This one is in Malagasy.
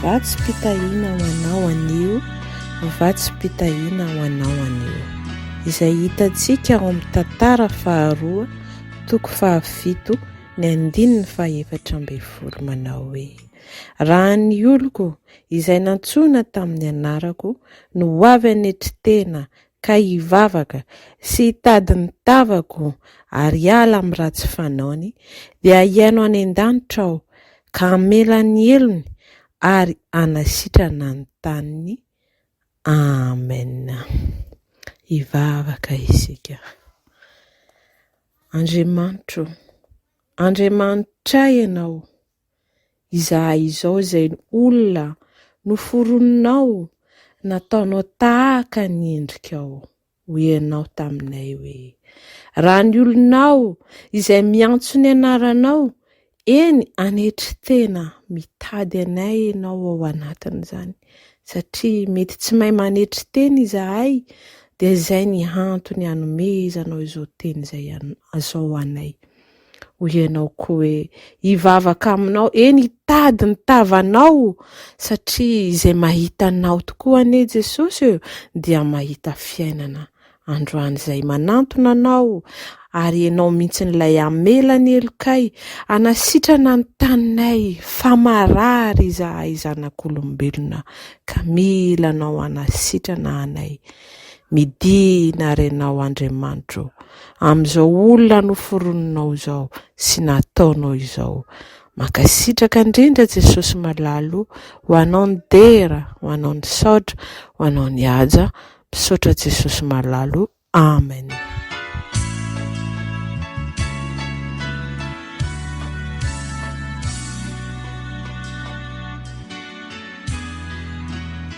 Vatsim-pitahiana ho anao anio, vatsim-pitahiana ho anao anio. Izay hitantsika ao amin'ny tantara faharoa, toko fahafito, ny andininy fahefatra ambin'ny folo manao hoe Raha ny oloko izay nantsoina tamin'ny anarako no ho avy anetry tena ka hivavaka sy hitady ny tavako ary hiala amin'ny ratsy fanaony, dia hihaino any an-danitra Aho ka hamela ny helony ary hanasitrana ny taniny. Amen. Hivavaka isika. Andriamanitro, Andriamanitray Ianao. izahay izao izay olona noforoninao nataonao tahaka ny endrikao ho ianao taminay hoe raha ny olonao izay miantso ny anaranao eny anetry tena mitady anay ianao ao anatin'izany satria mety tsy mahay manetry teny izahay dia izay ny antony anomezanao izao teny izay azao anay Hoy ianao koa hoe, Hivavaka aminao, eny hitady ny tavanao, satria izay mahita anao tokoa anie Jesosy e, dia mahita fiainana. Androany izay manantona anao, ary ianao mihitsy ilay hamela ny helokay, hanasitrana ny taninay, fa marary izahay zanak'olombelona, ka mila anao hanasitrana anay. Midina ary ianao Andriamanitra ô, amin'izao olona noforoninao izao sy nataonao izao. Mankasitraka indrindra Jesosy malala o, ho anao ny dera, ho anao ny saotra, ho anao ny haja, misaotra Jesosy malala o, Amen.